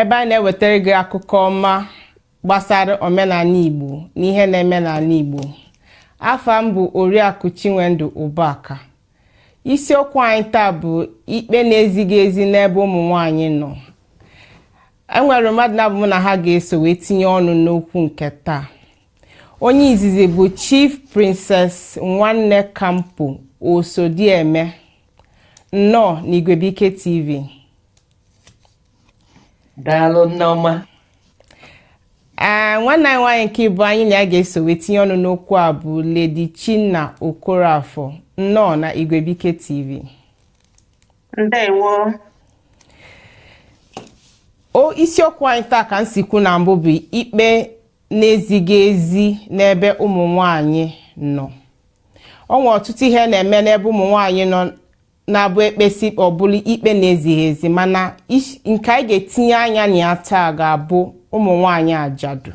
ebe anyị na-ewetara gị akụkọ ọma gbasara omenala Igbo na ihe na-eme n'ala Igbo afa m bụ Oriakụ Chinwendu Ụbaka isiokwu anyị taa bụ ikpe na-ezighị ezi n'ebe ụmụ nwanyị nọ enwere mmadụ naabọ m na ha ga-eso wee tinye ọnụ n'okwu nke taa onye izizi bụ Chief Princess Nwanneka Mpo Osodieme nnọọ na Igwebike TV daalụ nneọma ee nwanne anyị nwaanyị nke ịbụa anyị na ya ga-eso wee tinye ọnụ n'okwu a bụ Lady Chinna Okoroafor nnọọ na Igwebike TV ndewo o isiokwu anyị taa ka m si kwu na mbụ bụ ikpe na-ezighị ezi n'ebe ụmụ nwanyị nọ ọ nwere ọtụtụ ihe na-eme n'ebe ụmụ nwanyị nọ na-abụ ekpesi ikpe ọ bụlụ ikpe na-ezighị ezi mana is- nke anyị ga-etinye anya na ya taa ga-abụ ụmụ nwanyị ajadu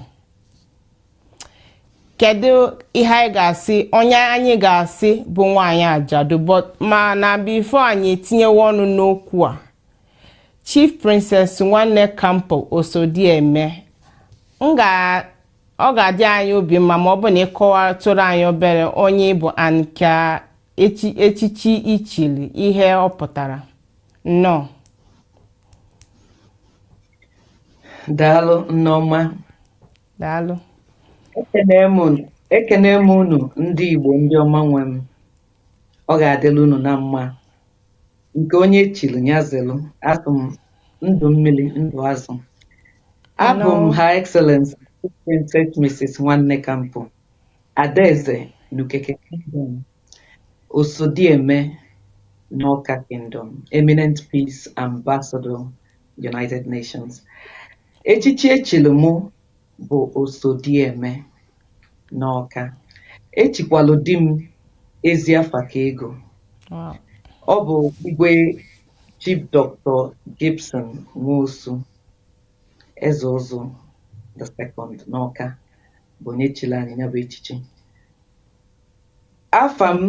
kedu ihe anyị ga-asị onye anyị ga-asị bụ nwanyị ajadu but mana before anyị etinyewe ọnụ n'okwu a chief princess nwanneka mpo osodieme m ga ọ ga-adị anyị obi mma ma ọ bụ na ị kọwatụrụ anyị obere onye ị bụ and ka echi echichi i chili ihe ọ pụtara nnọọ daalụ nneọma daalụ ekene m unu- ekene m unu ndị igbo ndị ọma nwe m ọ ga-adịlị unu na mma nke onye chili nya zelu asị m ndụ mmiri ndụ azụ abụ m Hello. Her Excellency Princess Mrs. Nwanneka Mpo Adaeze N'Ukeke Kingdom, Osodieme N'Awka Kingdom, Eminent Peace Ambassador, United Nations. Echichi e chiri mụ bụ Osodieme N'Awka. E chikwalu di m ezi afa ka ego. Wow. Ọ bụ igwe Chief Dr. Gibson Nwosu, Eze Ụzụ the second n'Awka. bụ onye chiri anyị ya bụ echichi afa m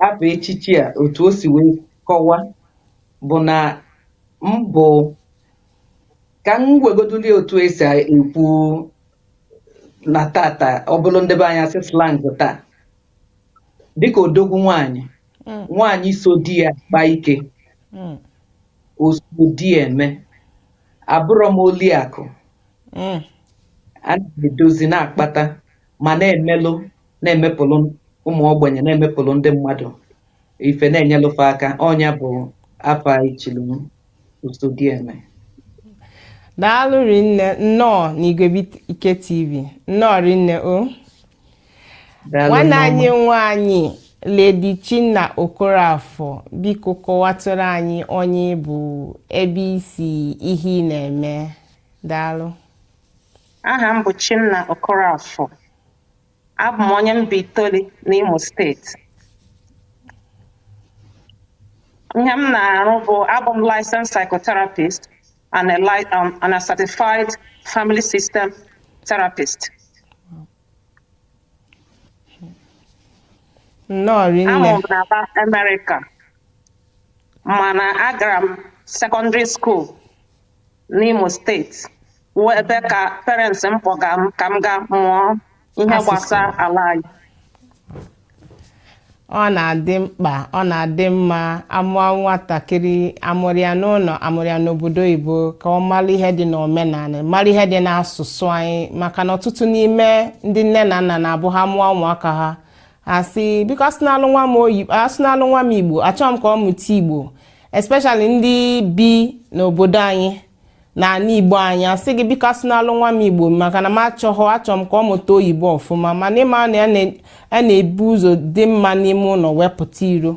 afụ echichi a otu o si wee kọwa bụ na m bụ ka m wegoduli otu esi ekwu na tata ọ bụrụ ndị be anyị sị slang taa dịka odogwu nwaanyị mm. nwaanyị so di ya kpa ike mm. oso di ya eme abụrọ m oliakụ mm. a na-edozi na-akpata ma na-emelụ na-emepụlụ ụmụ ogbenye na-emepụlụ ndị mmadụ ife na-enyelụ fa aka ọ nya bụ afa e chili m Osodieme daalụ rinne nnọọ n'Igwebuike TV nnọọ rinne o Daalụ nwanne nneọma. anyị nwaanyị lady chinna okorafor biko kọwatụrụ anyị onye ị bụ ebe i si ihe ị na-eme Daalụ. Aha m bụ Chinna Okorafor. Abụ m onye Mbaitoli n'Imo steeti. Ihe m na-arụ bụ abụ m licensed psychotherapist and a, li um, and a certified family system therapist. Nnọọ rinne. A mụrụ m n'ebe a Amerịka mana agara m sekọndịrị skuul n'Imo steeti wụ ebe ka parents m kpọga m ka m gaa mụọ ihe Asụsụ. gbasara ala anyị ọ na-adị mkpa ọ na-adị mma a mụọ nwatakịrị a mụrụ ya n'ụlọ a mụrụ ya n'obodo oyibo ka ọ mara ihe dị n'omenala mara ihe dị n'asụsụ anyị maka na ọtụtụ n'ime ndị nne na nna na-abụ ha mụọ ụmụaka ha a sị biko asụnalụ nwa m oyi asụnalụ nwa m igbo achọọ m ka ọ mụta igbo especially ndị bi n'obodo anyị na ala igbo anyị asị gị biko asụnalụ nwa m igbo maka na m achọghọ achọọ m ka ọ mụta oyibo ọfụma mana ị ma na ya na- ya na-ebu ụzọ dị mma n'ime ụlọ wee pụta iro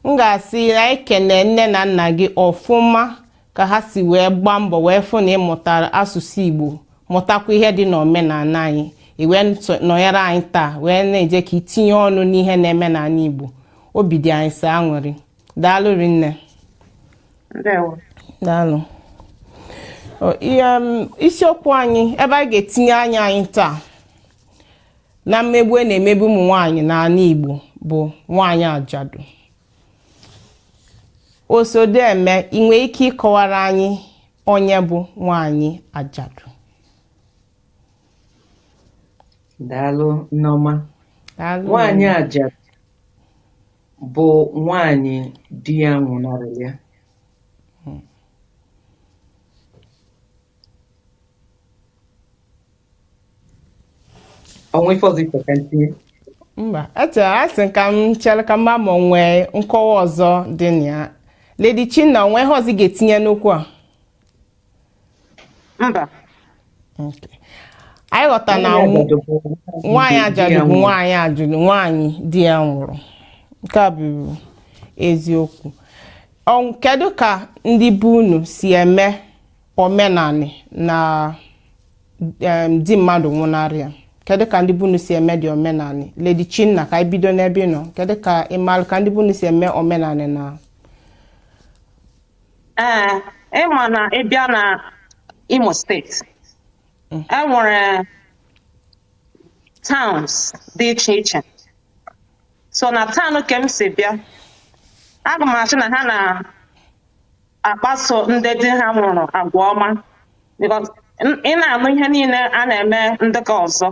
m ga-asị na anyị kelee nne na nna gị ọfụma ka ha si wee gbaa mbọ wee fụ na ị mụtara asụsụ igbo mụtakwa ihe dị n'omenala anyị i wee nso- nọnyere anyị taa wee na-eje ka i tinye ọnụ n'ihe na-eme n'ala igbo obi dị anyị sọ aṅụrị daalụ rinne ndewo daalụ O, ihe, m, isiokwu anyị ebe anyị ga-etinye anya anyị taa na mmegbu a na-emegbu ụmụ nwaanyị n'ala igbo bụ nwaanyị ajadu Osodieme ị nwere ike ịkọwara anyị onye bụ nwaanyị ajadu daalụ nneọma Daalụ. nwaanyị ajadu bụ nwaanyị di ya nwụnarịrị ya o nwe ife ọzọ ife ka ntinye mba etu a sị ka m chere ka m ma ma e nwee nkọwa ọzọ dị na ya lady chinna o nwe ihe ọzọ ị ga-etinye n'okwu a mba Okay. anyị ghọta na nw- nwaanyị ajadu bụ nwaanyị ajadu nwaanyị di ya nwụrụ nke a bụ eziokwu Ọ- kedu ka ndị be unu si eme omenanị na em, di mmadụ nwụnarị ya kedu ka ndị be unu si eme the omenanị lady chinna ka anyị bido n'ebe ị nọ kedu ka ịmalụ ka ndị be unu si eme omenanị na ee ịma na ịbịa na Imo State e nwere towns dị iche iche so na town ke m si bịa aga m asị na ha na akpaso ndị di ha nwụrụ agwa ọma because n- ị na-anụ ihe niile a na-eme ndị ke ọzọ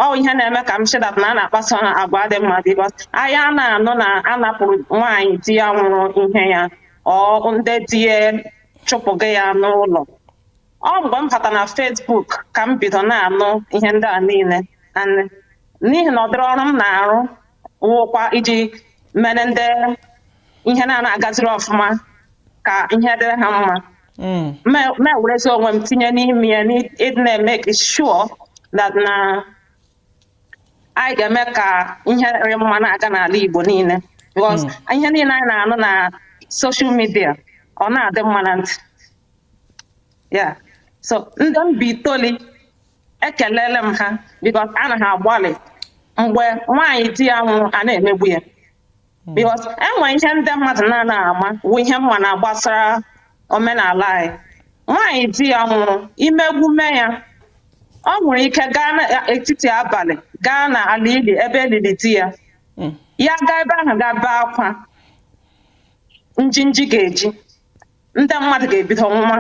ọ wụ ihe na-eme ka m sị that na a na-akpaso ha agwa dị mma because anyị a na-anụ na a napụrụ nwaanyị di ya nwụrụ ihe ya or ndị di ya chụpụga ya n'ụlọ ọ mgbe m bata na Facebook ka m bido na-anụ ihe ndị a niile and n'ihi na ụdịrị ọrụ m na-arụ wụkwa iji mere ndị ihe na-anaa agaziri ọfụma ka ihe dịrị ha mma mewerezi onwe m tinye n'ime ya n'ịdị na-emake sure that na anyị ga-eme ka ihe rị mma na-aga n'ala Igbo niile because ihe niile anyị na-anụ na social media ọ na-adị mma na ntị ya so ndị Mbaitoli ekelele m ha because a na ha agbalị mgbe nwaanyị di ya nwụrụ a na-emegbu ya because e nwe ihe ndị mmadụ na-ana ama wụ ihe m ma na gbasara omenala anyị nwaanyị di ya nwụrụ i megbume ya ọ nwere ike gaa n'etiti abalị gaa na ala ili ebe e lili di ya ya gaa ebe ahụ gaa bee akwa njinji ga-eji ndị mmadụ ga-ebido nwụma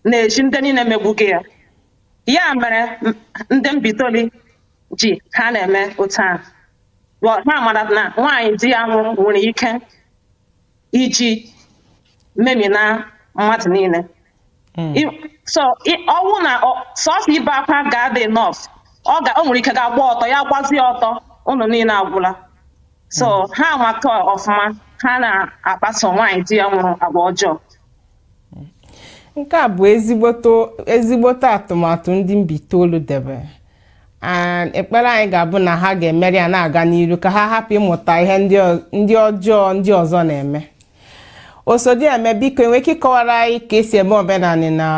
na-eji ndị niile megbuga ya ya mere m- ndị Mbaitoli ji ha na-eme otu a wụ ha mara na nwaanyị di ya nwụrụ nwere ike iji memina mmadụ niile I- so i- ọ wụ na ọ- sọsọ ibe akwa ga-adị enough ọ ga- o nwere ike ga-agba ọtọ ya gbazie ọtọ ụnụ niile agwụla so hmm. ha anwaka ọfụma ha na-akpaso nwaanyị di ya nwụrụ agwa ọjọọ nke a bụ ezigbote ezigbote atụmatụ ndị Mbaitolu debere and ekpere anyị ga-abụ na ha ga-emeri ya na-aga n'iru ka ha hapụ ịmụta ihe ndị ọjọọ ndị ọzọ na-eme Osodieme biko e nwe ike ịkọwara anyị ka e si eme omenanị na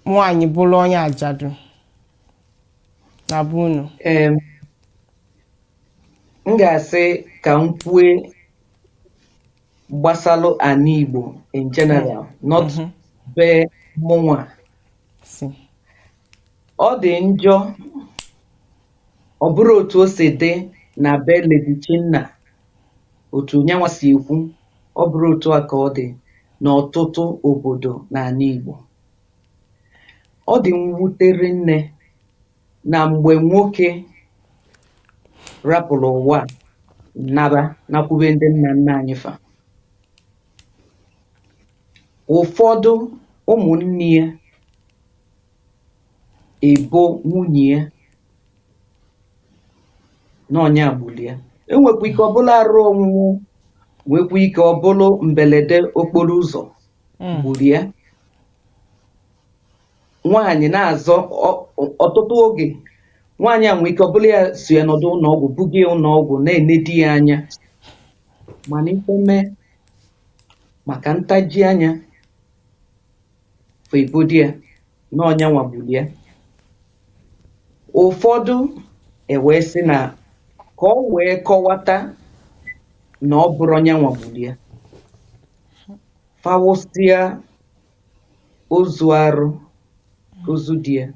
nwaanyị bụrụ onye ajadu na be unu Em, m ga-asị ka m kwue gbasalụ ana Igbo in general not be mụnwa si ọ dị njọ ọ bụrụ otu o si dị na be Lady Chinna otu nyanwa si ekwu ọ bụrụ otu a ka ọ dị n'ọtụtụ obodo n'ana Igbo ọ dị mwute rinne na mgbe nwoke rapụrụ ụwa a naba nakwube ndị nna nna anyị fa ụfọdụ ụmụnne ya ebo nwunye ya na ọ nya gburu ya enwekwa ike ọ bụlụ arụ ọnwụnwụ nwekwa ike ọ bụlụ mbelede okporo ụzọ hmm. gburu ya nwaanyị na-azọ ọtụtụ oge nwaanyị a nwee ike ọ bụlụ ya so ya nọdụ ụnọọgwụ buga ya ụnọọgwụ na-ene di ya anya mana ife mee maka ntaji anya fa ebodo ya na ọ nyanwa gburu ya ụfọdụ ewee sị na ka o wee kọwata na ọ bụrọ nyanwa gburu ya fa wụsịa ozu arụ ozu di ya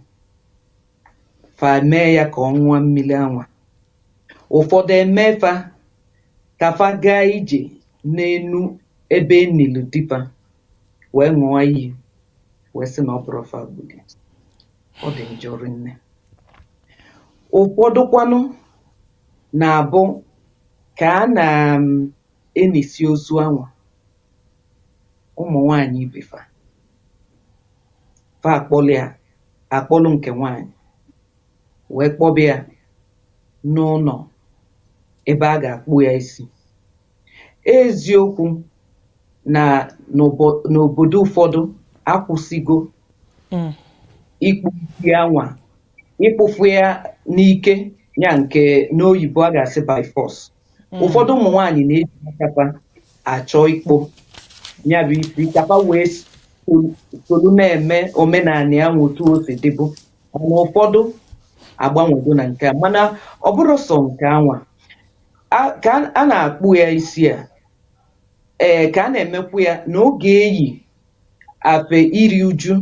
fa mee ya ka ọ ṅụọ mmiri anwa ụfọdụ eme fa ka fa gaa ije n'enu ebe e nili di fa wee ṅụọ iyi wee sị na ọ bụrọ fa gburu ya. ọ dị njọ rinne ụfọdụkwanụ na-abụ ka a na um, e nisịa ozu anwa ụmụ nwanyị ibe fa fa akpọlụ ya akpọlụ nke nwanyị wee kpọba ya n'ụnọ ebe a ga-akpụ ya isi Eziokwu na n'obodo ụfọdụ akwụsịgo hmm. ịkpụ isi anwa ịkpụfu ya n'ike ya nke n'oyibo a ga-asị by force hmm. ụfọdụ ụmụ nwaanyị na-eji aka fa achọ ịkpụ ya bụ isi ka fa wee solu na-eme omenana anwa otu o si dịbu mana ụfọdụ agbanwego na nke a mana ọ bụrọ sọ nke anwa a- ka a- a na-akpụ ya isi a ee ka a na-emekwu ya na ọ ga-eyi afe iri uju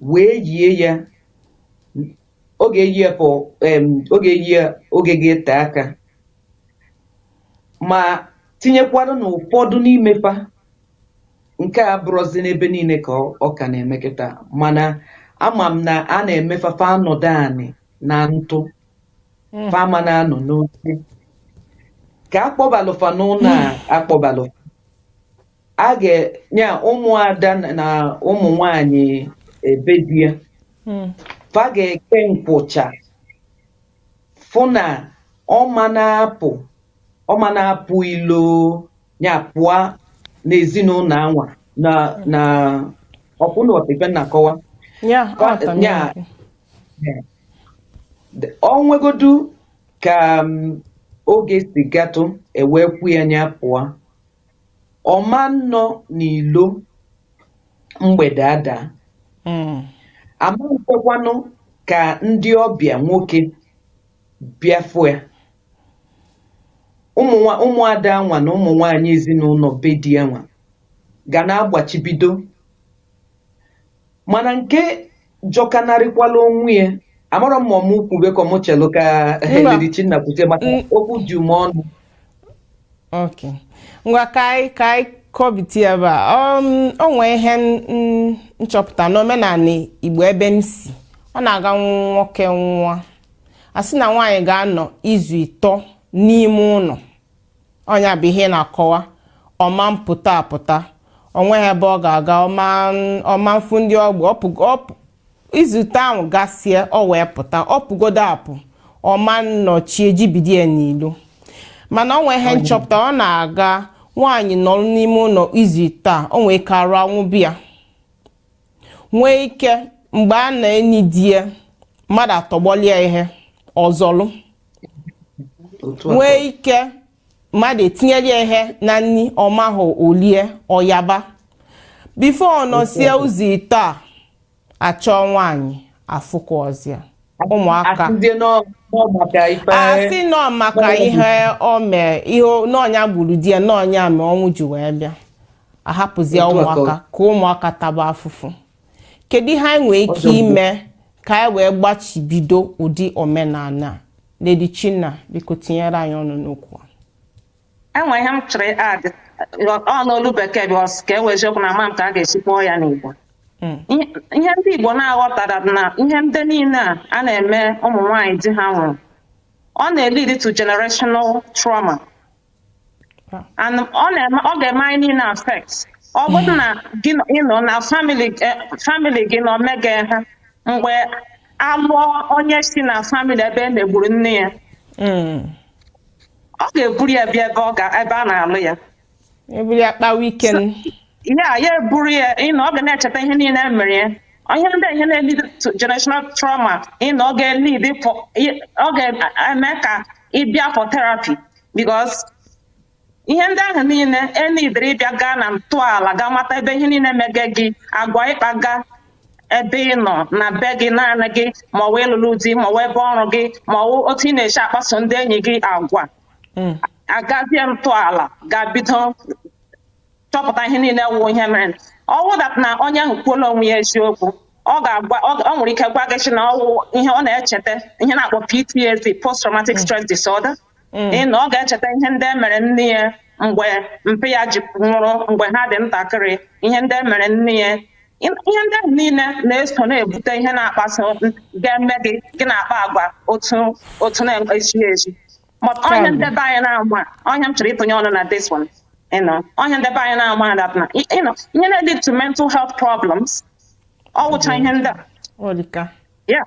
wee yie ya ọ ga-eyi ya for em, ọ ga-eyi ya oge ga-ete aka ma tinyekwara na ụfọdụ n'ime fa nke a abụrọzi n'ebe niile ka ọ ọ ka na-eme kịta mana ama m na a na-eme fa fa anọdụ anị na ntụ Mm. fa ama na-anọ n'oche ka a kpọbalụ fa n'ụnọ a kpọbalụ fa a ga-enye ụmụada na- na ụmụ nwanyị ebe di ya Mm. fa ga-eke nkwụcha fụ na ọ ma na-apụ ọ ma na-apụ ilo nya pụa n'ezinụnọ anwa na na ọkwụna ọtịfe na-akọwa Yeah, Ka- aghọtara m yeah. ya. o nwegodu ka um, oge si gatụ e wee kwu ya nya pụa ọ ma nnọ n'ilo mgbede ada hmm. a ma nkwekwanụ ka ndị ọbịa nwoke bịa fụ ya ụmụada anwa na ụmụ nwaanyị ezinụnọ be di ya anwa ga na-agbachibido mana nke jọkanarịkwala onwe ya amarọ m ma ọ mụ kwube ka ọ mụ chelụ ka Mba. Lady Chinna kwute maka Mm. okwu ju m ọnụ ok ngwa ka anyị ka anyị kọbiti ya ebe a um, o nwee ihe m- m- m chọpụta n'omenanị igbo ebe m si ọ na-aga nwoke nwụa a sị na nwaanyị ga-anọ izu ịtọ n'ime ụnọ ọ nya bụ ihe m na-akọwa ọ ma mpụta apụta o nweghị ebe ọ ga-aga ọ ma mfụ ndị ọgbọ izu ịtọ ahụ gasie o wee pụta ọ pụgodu apụ ọ ma nnọ chi ejibido ya n'ilo mana o nwee ihe m chọpụta ọ na-aga nwaanyị nọrọ n'ime ụnọ izu ịtọ a o nwee ike arụ anwụba ya nwee ike mgbe a na-eni di ya mmadụ atọgbọlụ ya ihe ọ zọlụ nwee ike mmadụ etinyere ya ihe na nni ọ mahụ o lie ọ yaba before ọ nọsịa izu ịtọ a a chọọ nwaanyị afụkwọzi ya a sị na ọ maka ihe o mee ihe na ọ nya gburu di ya na ọ nya mee ọnwụ ji wee bịa a hapụzie ụmụaka ka ụmụaka taba afụfụ kedu ihe anyị nwere ike ime ka anyị wee gbachibido ụdị omenala Lady Chinna biko tinyere anyị ọnụ n'okwu e nwe ihe m chọrọ add ọ n'olu bekee because ọ wụ eziokwu na ama m ka a ga-esi kwuo ya n'Igbo hmm. ihe ndị Igbo na-aghọta that na ihe ndị niile a a na-eme ụmụ nwaanyị di ha nwụrụ ọ na-elead to generational trauma and ọ na-eme ọ ga-eme anyị niile affect ọ bụrụ na gị nọ- ị nọ na family eh, family gị nọ mega ihe a mgbe a lụọ onye si na family ebe e megburu nne ya Mm. ọ ga-eburu ya bịa ebe ọ ga ebe a na-alụ ya eburu ya kpawa ike n- ya ya eburu ya you know ọ ga na-echeta ihe niile e mere ya ihe ndị ahụ na-elead to generational trauma you know ọ ga-elead pụ- ị- ọ ga-eme ka ị bịa for therapy because ihe ndị ahụ niile enidere ị bịa gaa na ntọala gaa mata ebe ihe niile mege gị agwa ị kpaga ebe ị nọ na be gị naanị gị ma ọ wụ ị lụlụ di ma ọ wụ ebe ọrụ gị ma ọ wụ otu ị na-esi akpaso ndị enyi gị agwa a gazie ntọala gaa bido chọpụta ihe niile wụ ihe mere ọ wụ that na onye ahụ kwuola onwe ya eziokwu ọ ga-agwa ọ o nwere ike gwa gị sị na ọ wụ ihe ọ na-echeta ihe a na-akpọ PTSD post traumatic stress disorder you know ọ ga-echeta ihe ndị e mere nne ya mgbe mpa ya ji nwụrụ mgbe ha dị ntakịrị ihe ndị e mere nne ya Ị- ihe ndị ahụ niile na-eso na-ebute ihe na-akpaso ga-eme gị gị na-akpa agwa otu otu na-ezighị ezi But ọ ihe Tell me. ndị be anyị na-ama ọ ihe m chọrọ ịtụnye ọnụ na this one you know ọ ihe ndị be anyị na-ama that na you know ihe na-lead to mental health problems ọ wụcha ihe ndị a ọ dị ka Yeah.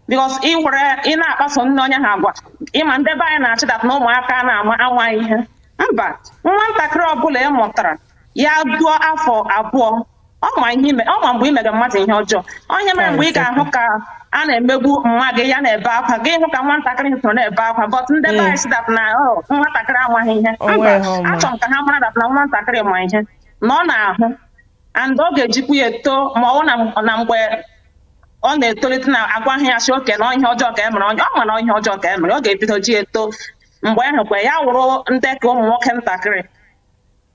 Because ị were ị na-akpaso nne onye ahụ agwa ị ma ndị be anyị na-eche that na ụmụaka na-ama ama ihe mba nwa ntakịrị ọbụla ị mụtara ya ruo afọ abụọ ọ ma ihe i me ọ ma mgbe ị mere mmadụ ihe ọjọọ onye mere mgbe ị ga-ahụ ka a na-emegbu nwa gị ya na-ebe akwa gị hụ ka nwatakịrị soro na-ebe akwa but ndị be anyị sị that na ọ nwatakịrị amaghị ihe mba o nwere ihe ọ ma. achọrọ m ka ha mara that na nwatakịrị ma ihe na ọ na-ahụ and ọ ga-ejikwu ya eto ma ọ bụ na m- na mgbe ọ na-etolite na a gwaghị ya sị okay na ọ ihe ọjọọ ka e mere onye ọ ma na ọ ihe ọjọọ ka e mere ọ ga-ebido ji eto mgbe ahụ kwe ya wụrụ dị ka ụmụ nwoke ntakịrị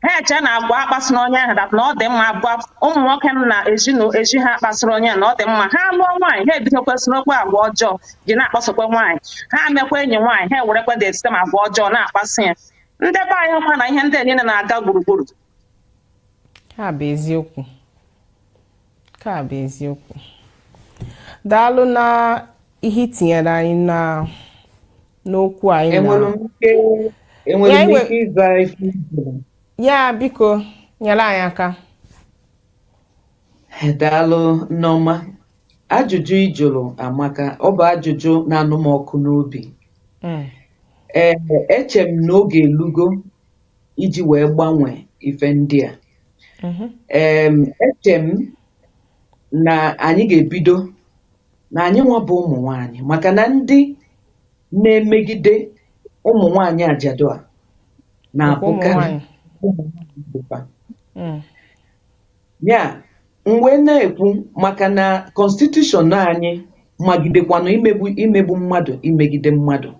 ha eche na agwa a kpasara onye ahụ that na ọ dị mma agwa ụmụ nwoke nọ na ezinụlọ ezi ha kpasara onye ahụ na ọ dị mma ha lụọ nwaanyị ha ebidokwa sorokwa agwa ọjọọ ji na-akpasokwa nwaanyị ha mekwa enyi nwaanyị ha ewerekwa the same agwa ọjọọ na-akpasị ya ndị be anyị hụkwa na ihe ndị a niile na-aga gburugburu ha bụ eziokwu nke a bụ eziokwu daalụ na ihe i tinyere anyị na n'okwu anyị na enwere m ike enwere Ya, m enwe- ike ịza ihe ị jụrụ? ya biko nyere anyị aka daalụ nneọma ajụjụ ị jụrụ amaka ọ bụ ajụjụ na-anụ m ọkụ n'obi Mm, ee eche m na oge elugo iji wee gbanwee ife ndị a mhm. em eche m na anyị ga-ebido na anyị nwa bụ ụmụ nwanyị maka na ndị na-emegide ụmụ nwanyị ajadu a na-abụkarị mm. ya m wee na-ekwu maka na constitution anyị magidekwanụ imegbu imegbu mmadụ imegide mmadụ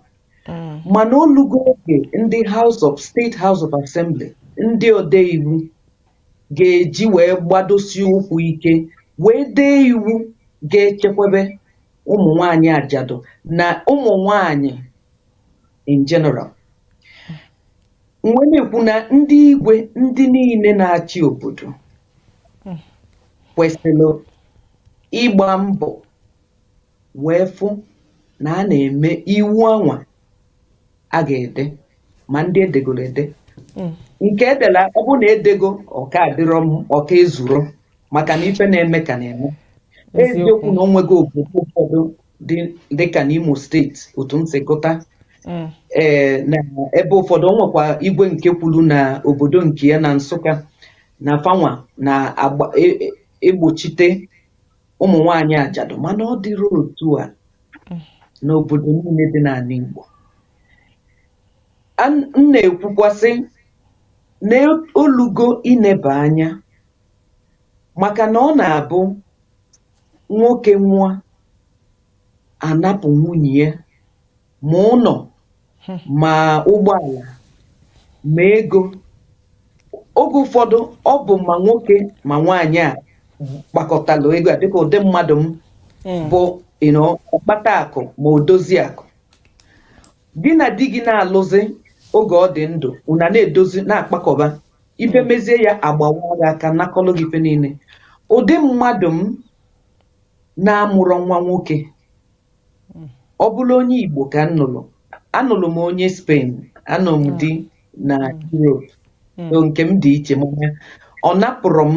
mm. mana o lugo oge ndị House of State House of Assembly ndị ode iwu ga-eji wee gbadosi ụkwụ ike wee dee iwu ga-echekwebe ụmụ nwanyị ajadu na ụmụ nwanyị in general m wee na-ekwu na ndị igwe ndị niile na-achị obodo kwesịrị ịgba mbọ wee fụ na a na-eme iwu anwa a ga-ede ma ndị edegoro ede mm. nke edela ọ bụ na edego ọ ka adịrọ ọ ka ezurọ maka na ife na-eme ka na-eme eziokwu na o nwego obodo ụfọdụ dị ka n'Imo steeti otu m si gụta mm. ee eh, na ebe ụfọdụ o nwekwa igwe nke kwuru na obodo nke ya na Nsụka na fa nwa na-egbochite e, e, ụmụ nwaanyị ajadu mana ọ dịrọ otu a n'obodo niile dị n'anị Igbo An- m na-ekwukwasị na o lugo ineba anya maka na ọ na-abụ nwoke nwụa a napụ nwunye ya ma ụnọ hmm. ma ụgbọala ma ego oge ụfọdụ ọ bụ ma nwoke ma nwaanyị a kpakọtalụ ego a dịka ụdị mmadụ m hmm. bụ ọkpata akụ ma odozi akụ gị na di gị na-alụzi oge ọ dị ndụ una na-edozi na-akpakọba ife hmm. mezie ya a gbawa gị aka nakọlụ gị ife niile ụdị mmadụ m na-amụrọ nwa nwoke Mm. ọ bụrọ onye Igbo ka m nụlụ anụlụ m onye Spain anụ m di na Europe Mm. so nke m dị iche mana ọ napụrọ m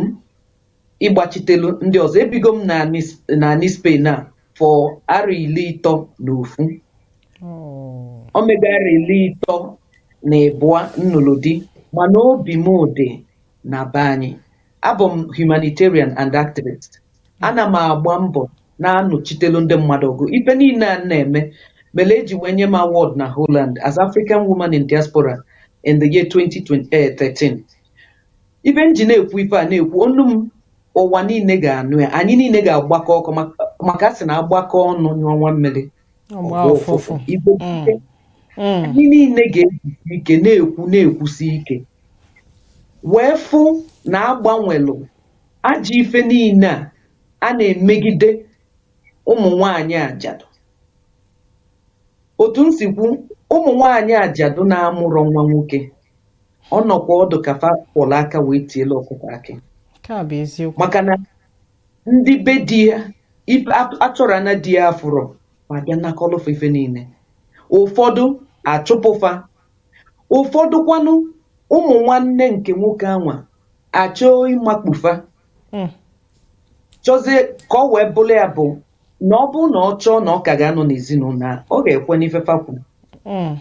ịgbachitelu ndị ọzọ ebigo m n'anị S- n'anị Spain a for arọ ili ịtọ na ofu Oh. o mego arọ ili ịtọ na ịbụa m nụlụ di mana obi m dị na be anyị abụ m humanitarian and activist ana m agba mbọ na-anụchitelu ndị mmadụ ọgụ ife niile a m na-eme mere eji wee nye m award na Holland as African woman in diaspora in the year 2013 ife m ji na-ekwu ife a na-ekwu onu m ụwa niile ga-anụ ya anyị niile ga-agbakọ aka maka a sị na agbakọ ọnụ nyụọ nwa mmiri ụfụfụ agbọọ mm. mm. anyị niile ga-ejisi ike na-ekwu na-ekwusi ike wee fụ na agbanwelụ ajọ ife niile a a na-emegide ụmụ nwanyị ajadu otu m si kwu ụmụ nwanyị ajadu na-amụrọ nwa nwoke ọ nọkwa adị ka fa kwọrọ aka wee tielu ọkụkọ akị maka na ndị be di ya ife at- atụrụ na di ya afụrọ ma bịa nakọlụ fa ife niile ụfọdụ achụpụ fa ụfọdụ kwanụ ụmụ nwanne nke nwoke anwa achọọ ịmakpu fa Mm. chọzie ka ọ wee bụrụ ya bụ na ọ bụrụ na ọ chọọ na ọ ka ga-anọ n'ezinụlọ a ọ ga-ekwe n'ife fa kwuru Mm.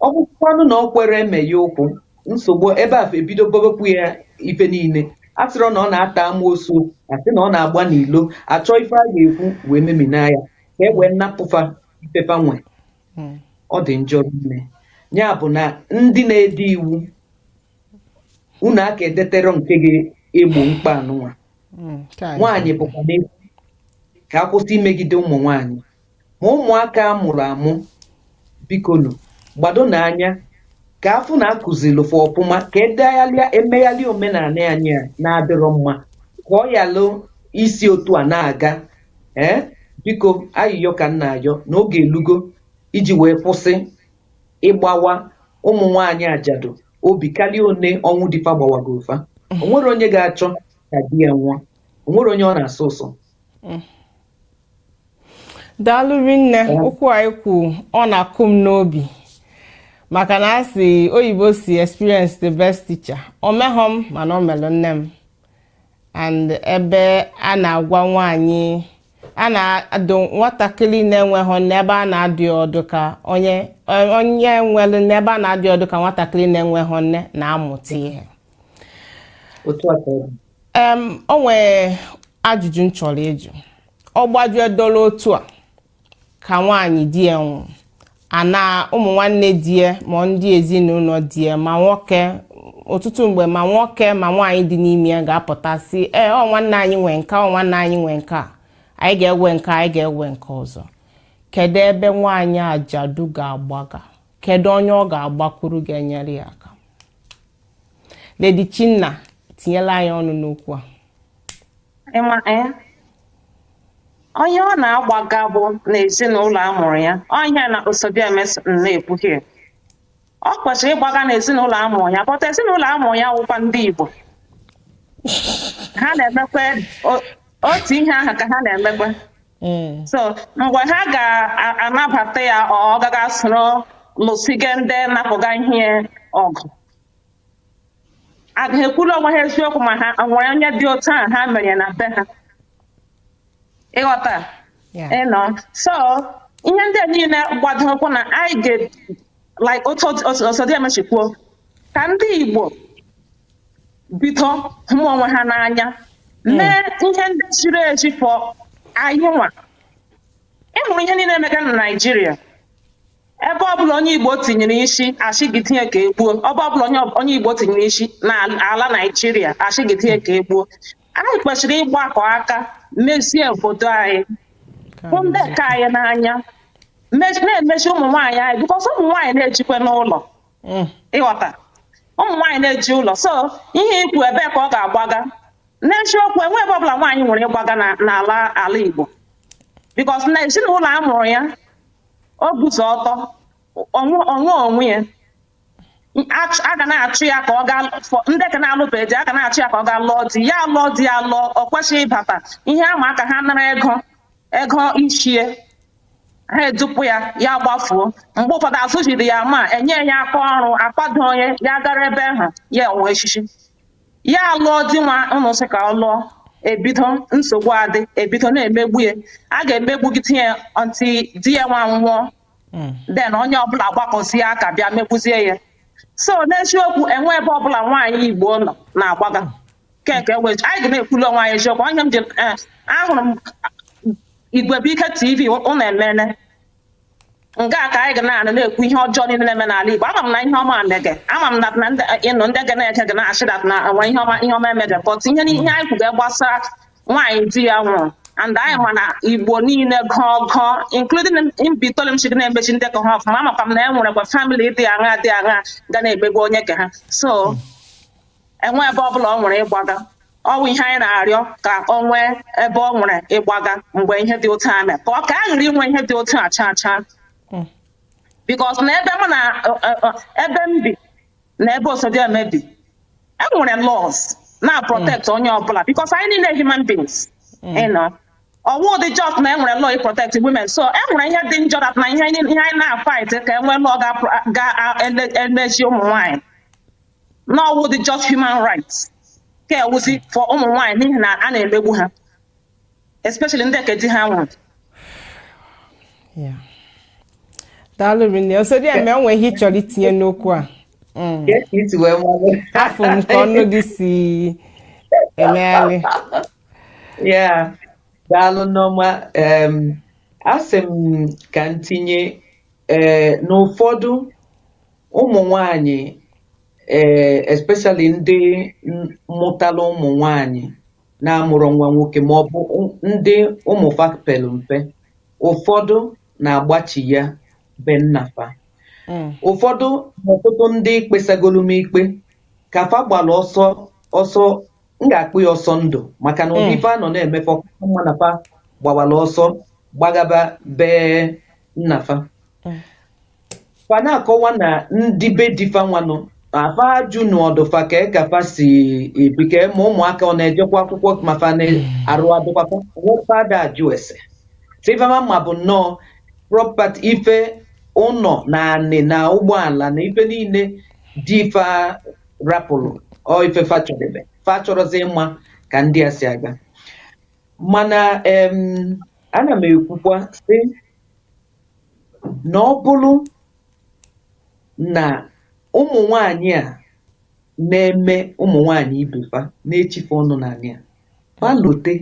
ọ bụkwanụ na o kwerọ eme ya nnukwu nsogbu ebe a ebido bobekwu ya ife niile asịrị na ọ na-ata amoosu asị na ọ na-agba n'ilo achọ ife a ga-ekwu wee memina ya ka e wee napụ fa ife fa nwe Mm. ọ dị njọ rinne ya bụ na ndị na-ede iwu unu aka edeterọ nke ga-egbo mkpa anụnwa mm, nwaanyị bụkwa nne fa ka a kwụsị imegide ụmụ nwaanyị ma ụmụaka a mụrụ amụ bikonu gbadonụ anya ka afụ na akụziri fa ọfụma ka edegharịa emegharịa omenala anyị a na-adịrọ mma ka ọ yalụ isi otu a na-aga ee biko ayịyọ ka m na-ayọ na oge elugo iji wee kwụsị ịgbawa ụmụ nwaanyị ajadu obi karịa one ọnwụ di fa gbawagoro fa o nwere onye ga-achọ ka di ya nwụọ o nwere onye ọ na-asọ ụsọ daalụ rinne okwu a i kwu ọ na-akụ m n'obi maka na a sị oyibo si experience the best teacher o meghọ m mana o melụ nne m and ebe a na-agwa nwaanyị a na-adụ nwatakịrị na-enweghị nne ebe a na-adụ ọdụ ka onye onye nwere nne ebe a na-adụ ọdụ ka nwatakịrị na-enweghị nne na-amụta ihe o nwere ajụjụ m chọrọ ịjụ ọ gbajue doro otu a ka nwaanyị di ya nwụrụ ana ụmụ nwanne di ya ma ndị ezinụlọ di ya ma nwoke ọtụtụ mgbe ma nwoke ma nwaanyị dị n'ime ya ga-apụta sị ee ọ nwanne anyị nwe nke a ọ nwanne anyị nwe nke a anyị ga-ewe nke a anyị ga-ewe nke ọzọ kedu ebe nwaanyị ajadu ga-agbaga kedu onye ọ ga-agbakwuru ga-enyere ya aka Lady Chinna tinyela anyị ọnụ n'okwu a ịma ee onye ọ na-agbaga bụ n'ezinụlọ a mụrụ ya ọ ihe na Osodieme na-ekwuhie ọ kwesịrị ịgbaga n'ezinụlọ a mụrụ ya but ezinụlọ a mụrụ ya wụkwa ndị Igbo ha na-emekwa o- otu ihe ahụ ka ha na-emekwa Mm. so mgbe ha ga-anabata ya ọ gaghị esoro lụsiga ndị napụga ihe ọgụ A ga ha ekwuru onwe ha eziokwu ma ha o nwere onye dị otu ahụ ha mere ya na be ha ị ghọta Yeah. you know so ihe ndị a niile gbado ụkwụ na anyị ga like otu Osodieme si kwuo ka ndị Igbo bido hụ onwe ha n'anya mee ihe ndị ziri ezi for anyị nwa ị hụrụ ihe niile emega na Naịjirịa ebe ọbụla onye igbo tinyere isi a sị gị tinye ka e gbuo ebe ọbụla onye onye igbo tinyere isi na ala naijiria a sị gị tinye ka e gbuo anyị kwesịrị ịgbakọ aka mezie obodo anyị hụ ndị ka anyị n'anya me- na-emesi ụmụ nwaanyị anyị because ụmụ nwaanyị na-ejikwanụ ụlọ Mm. ị ghọta ụmụ nwaanyị na-eji ụlọ so ihe i kwu ebe ka ọ ga-agbaga n'eziokwu enwe ebe ọbụla nwaanyị nwere ịgbaga na- n'ala ala igbo because na ezinụlọ a mụrụ ya o guzo ọtọ o nwe onwe ya Achụ- a ga na-achụ ya ka ọ gaa for ndị ka na-alụbeghị di a ga na-achụ ya ka ọ gaa lụọ di ya lụọ di ya lụọ ọ kwesịghị ịbata ihe a maka ha nara ego ego isi ya ha edupụ ya ya gbafuo mgbe ụfọdụ azụziri ya ma enye ya aka ọrụ akwado onye ya gara ebe ahụ ya wee echichi ya alụọ di nwa ụnụ sị ka ọ lụọ e bido nsogbu adị e bido na-emegbu ya a ga-emegbugide ya until di ya nwa nwụọ then onye ọbụla agbakọzie aka bịa megbuzie ya so n'eziokwu enwe ebe ọbụla nwaanyị igbo nọ na-agbaga keke wee anyị ga na-ekwulu onwe anyị eziokwu onye m ji eh, ahụrụ m Igwebụike tv ụnụ emene nga ka anyị ga na-anụ na-ekwu ihe ọjọọ niile na-eme n'ala Igbo ama m na ihe ọma mege ama m na you know ndị ga na-eche ga na-asị that na nwa ihe ọma ihe ọma emege but ihe ihe anyị kwuga gbasara nwaanyị di ya nwụrụ and anyị ma na Igbo niile gọọ gọọ including Mbaitoli m si ga na-emesi ndị ka ha ọfụma amakwa m na e nwerekwa family dị aṅa dị aṅa ga na-emegbu onye ka ha so enwe ebe ọ bụla ọ nwere ịgbaga ọwụ ihe anyị na-arịọ ka ọ nwee ebe ọ nwere ịgbaga mgbe ihe dị otu a mere ka ọ ka a ghara inwe ihe dị otu a chaa chaa because na ebe mụ na ọ- ọ- ọ- ebe m bi na ebe osodieme bi enwere laws na-protect onye ọbụla because anyị niile human beings you know. ọwụ dị just na enwere law protect women so enwere ihe dị njọ that na ihe anyị ihe anyị na-fight ka enwee law ga-elezi ụmụ nwaanyị na ọwụ dị just human rights ka ewuzi for ụmụ nwaanyị n'ihi na a na-emegbu ha especially ndị nke di ha nwụrụ Yeah. daalụ rinne osodieme o nwere ihe ịchọrọ itinye n'okwu a Mm. Yes, it will, Mama. afụ m ka ọnụ gị si emegharị Yeah. Daalụ nne ọma. Um, asị m ka m tinye eh, na ụfọdụ ụmụ nwanyị ee eh, especially ndị mụtara ụmụ nwanyị na-amụrọ nwa nwoke ma ọ bụ ndị ụmụ fa pelu mpe ụfọdụ na-agbachigha be nna fa hmm. ụfọdụ ọtụtụ ndị kpesagolu m ikpe ka fa gbara ọsọ ọsọ m ga-akpọ ya ọsọ ndụ maka na ụdị hmm. ife a nọ na-eme fa mma na fa gbawara ọsọ gbagaba be nna fa hmm. fa na-akọwa na ndị be di fa nwanụ a fa ajụrọdụ fa kee ka fa si ebi ka ma ụmụaka ọ na-ejekwa akwụkwọ ma fa na-arụ adụkwakwa nwoke ada ajụ ese tivama ma bụ nnọọ property ife ụnọ na anị na ụgbọala na ife niile di fa rapụrụ ọ ife fa chọdebe fa achọrọzi ịma ka ndị a si aga mana em ana m ekwukwa sị na ọ bụrụ na ụmụ nwanyị a na-eme ụmụ nwanyị ibe fa na-echi fa ọnụ n'anị ka fa lote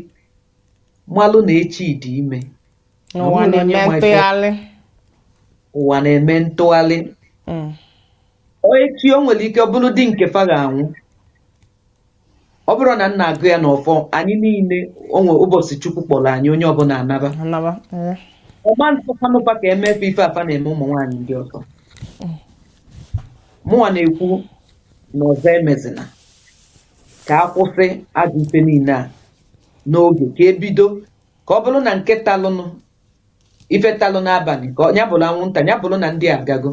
malụ na echi dị ime na Ụwa onwerọ onye na-eme ma ife- ntụgharị. ụwa na-eme ntụgharị Mm. Ọ echi o nwere ike ọ bụrụ di nke fa ga-anwụ ọ bụrụ na nna agụ ya n'ọfọ anyị niile onwe ụbọchị chukwu kpọrọ anyị onye ọbụla anaba anaba ee. ọ ga-asọkwanụ fa ka eme fa ife a fa na-eme ụmụ nwaanyị ndị ọzọ mụnwa na-ekwu na ọzọ emezina ka a kwụsị ajọ ife niile a n'oge ka ebido ka ọ bụrụ na nke talụnụ ife talụ n'abanị ka nya bụrụ anwụnta nya bụrụ na ndị a agago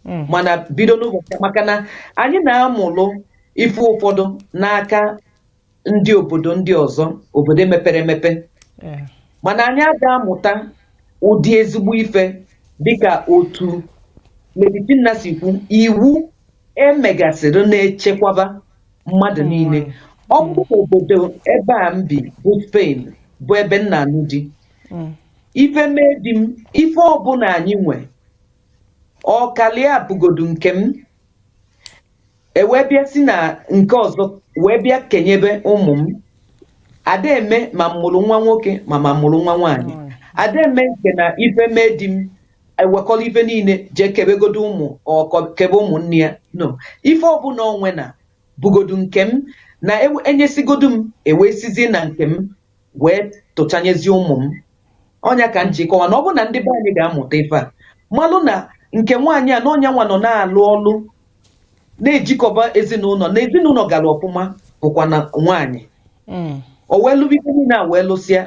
Mm. mana bido n'ụbọchị maka na anyị na-amụrụ ife ụfọdụ n'aka ndị obodo ndị ọzọ obodo mepere emepe Eh, mana anyị aga amụta ụdị ezigbo ife dịka otu Lady Tinna si kwu iwu e megasịrị na-echekwaba mmadụ niile ọ bụrụ na obodo ebe a m bi bụ Spain bụ ebe m na-anụ di mm. ife mee di m ife ọbụla anyị nwe ọkala ya bụgodu nke m e wee bịa si na nke ọzọ wee bịa kenyebe ụmụ m ada eme ma m mụrụ nwa nwoke ma m mụrụ nwa nwaanyị ada eme nke na ife mee di m e wekọrọ ife niile jee kebegodo ụmụ kebe ụmụnne ya no ife ọbụla o nwe na-abụgodu nke m na e nyesịgodu m e wee sizie na nke m wee tụchanyezie ụmụ m ọ nya ka m ji kọwa na ọ bụrụ na ndị be anyị ga-amụta ife a malụ na nke nwaanyị a na ọ nya nwa nọ na-alụ ọlụ na-ejikọba ezinụlọ na ezinụlọ gara ọfụma bụkwa na nwaanyị Mm. o wee lụba ife niile a wee lụsịa